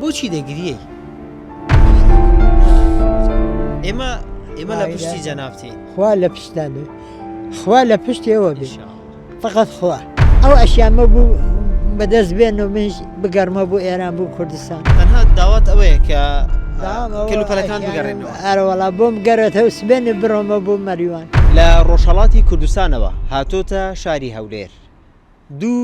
بۆچی دەگریەی؟ ئێمە ئێمە لە پشتی جەنابتی خوا لە پشتان خوا لە پشتێەوە بێ فقط خوا ئەو ئەشیانمە بوو بەدەست بێن و منش بگەرمە بۆ ئێران بوو کوردستان تەنها داوات ئەوەیە کە کلوپەلەکان بگەڕێنەوە ئەرەوەڵا بۆم گەرێتەوە سبێنێ بڕۆمە بۆ مەریوان لە ڕۆژهڵاتی کوردستانەوە هاتۆتە شاری هەولێر دوو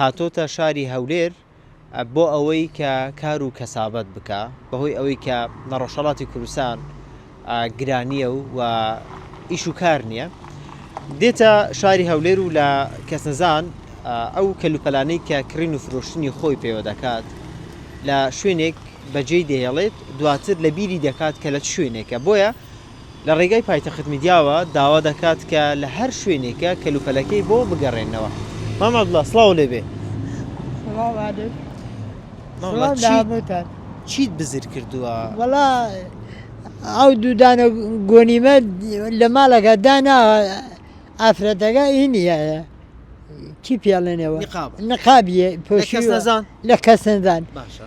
هاتۆتە شاری هەولێر بۆ ئەوەی کە کار و کەسابەت بکا بەهۆی ئەوەی کە لە ڕۆژهەڵاتی کوردستان گرانییە و و ئیش و کار نییە دێتە شاری هەولێر و لە کەسنەزان ئەو کەلوپەلانەی کە کڕین و فرۆشتنی خۆی پێوە دەکات لە شوێنێک بەجێی دەهێڵێت دواتر لە بیری دەکات کە لە چ شوێنێکە بۆیە لە ڕێگای پایتەخت میدیاوە داوا دەکات کە لە هەر شوێنێکە کەلوپەلەکەی بۆ بگەڕێننەوە. مام عەبدوڵا سڵاو لێ بێ. سڵاو عەلەیک. مام عەبدوڵا سڵاو لە چیت هەمووتان. چیت بزر کردووە؟ وەڵا ئەو دوو دانە گۆنیمە لە ماڵەکە داناوە ئافرەتەکە ئی نییە چی پێڵێنەوە؟ نقاب. نقابی لە کەس پۆشیوە نەزان؟ لە کەس نەزان. باشە.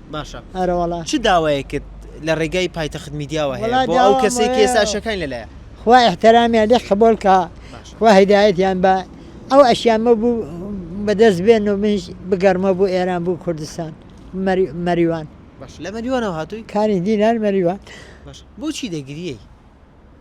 باشە. ئەرە وەڵا. چ داوایەکت لە ڕێگای پایتەخت میدیاوە هەیە وەڵا بۆ ئەو داوام کەسەی کە ئەوەیە ئێستا ئەشیەکانی لە لایە؟ خوا ئیحترامیان لێ قبوڵ کا باشە. خوا هیدایەتیان با ئەو ئەشیامە بو بە دەست بێن و منیش بگەڕمەوە بو ئێران بو کوردستان مەری مەریوان باشە لە مەریوانەوە هاتووی؟ کانی دینار مەریوان. باشە بۆچی دەگریی؟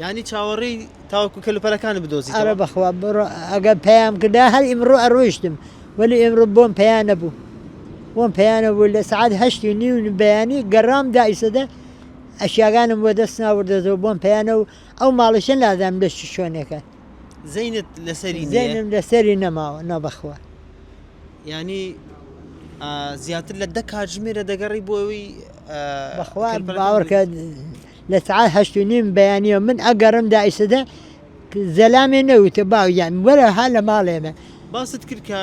یانی چاوەڕێی تاوەکو کەلوپەلەکانت بدۆزیتەوە؟ ئەرە بەخوا بڕۆ ئەگەر پەیام کردا هەر ئیمڕۆ ئەڕۆیشتم وەلی ئیمڕۆ بۆم پەیا نەبوو بۆم پەیا نەبوو لە سەعات هەشت و نیو بەیانی گەڕام دا ئیسەدە ئەشیاگانم وەدەست ناوردەتەوە بۆم پەیا نەبوو ئەو ماڵیشە نازانم لە چ شوێنێکە زەینت لەسەری نییە؟ زەینم لەسەری نەماوە نا بەخوا یانی ئا زیاتر لە دە کاتژمێرە دەگەڕی بۆ ئەوی ئا بەخوا کەلوپەلەکان باوەڕکە بدۆزی. لە سەعات هەشت و نیم بەیانیەوە من ئەگەڕم دایسەدە زەلامێ نەوتە باو یان وەرە ها لە ماڵێ من باست کرد کە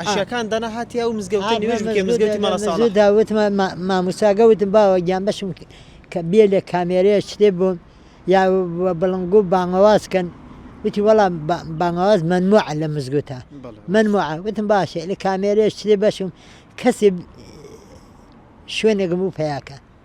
عشاکان دەنا هاتی ئەو مزگەوتە نوێژ بکە مزگەوتی مەڵەساڵە داوتمە ماموساگە وتم باوە گیان بەشم کە بێ لە کامێرەیە شتێ بووم یا بڵنگو بانگەوازکەن وتی وەڵام بانگەواز منموع لە مزگوتە منموع وتم باشێ لە کامێرەیە شتێ بەشم کەسێ شوێنێکم بوو پیاکە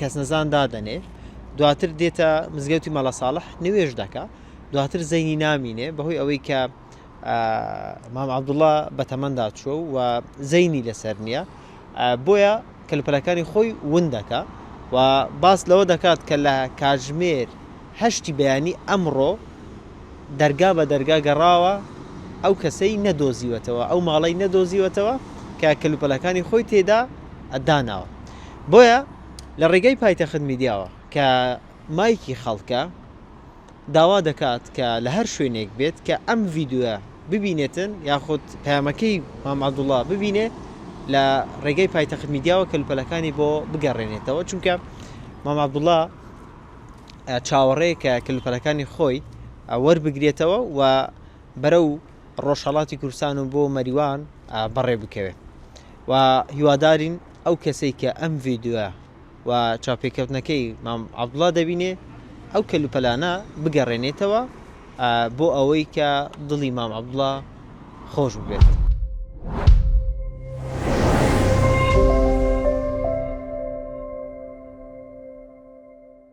کەسنەزان دادەنێ، دواتر دێتە مزگەوتی مەلا ساڵح نوێژ دەکا، دواتر زەینی نامینێ بەهۆی ئەوەی کە مام عبدوڵە بەتەمەندا چوە و زەینی لەسەر نییە بۆیە کەلوپەلەکانی خۆی ون دەکا و باس لەوە دەکات کە لە کاتژمێر هەشتی بەیانی ئەمڕۆ دەرگا بە دەرگا گەڕاوە ئەو کەسەی نەدۆزیوەتەوە ئەو ماڵی نەدۆزیوەتەوە کە کەلوپەلەکانی خۆی تێدا ئەداناوە بۆیە لە ڕێگای پایتەخت میدیاوە کە مایکی خەڵکە داوا دەکات کە لە هەر شوێنێک بێت کە ئەم ڤیدیۆیە ببینێتن یاخود پەیامەکەی مام عەبدوڵڵا ببینێ لە ڕێگای پایتەخت میدیاوە کەلوپەلەکانی بۆ بگەڕێنێتەوە چونکە مام عەبدوڵڵا چاوەڕێ کە کەلوپەلەکانی خۆی وەربگرێتەوە و بەرە و ڕۆژهڵاتی کوردستان و بۆ مەریوان بەڕێ بکەوێت و هیوادارین ئەو کەسەی کە ئەم ڤیدیۆیە و چاوپێکەوتنەکەی مام عەبدوڵا دەبینێ ئەو کەلوپەلانە بگەڕێنێتەوە بۆ ئەوەی کە دڵی مام عەبدوڵا خۆش ببێت.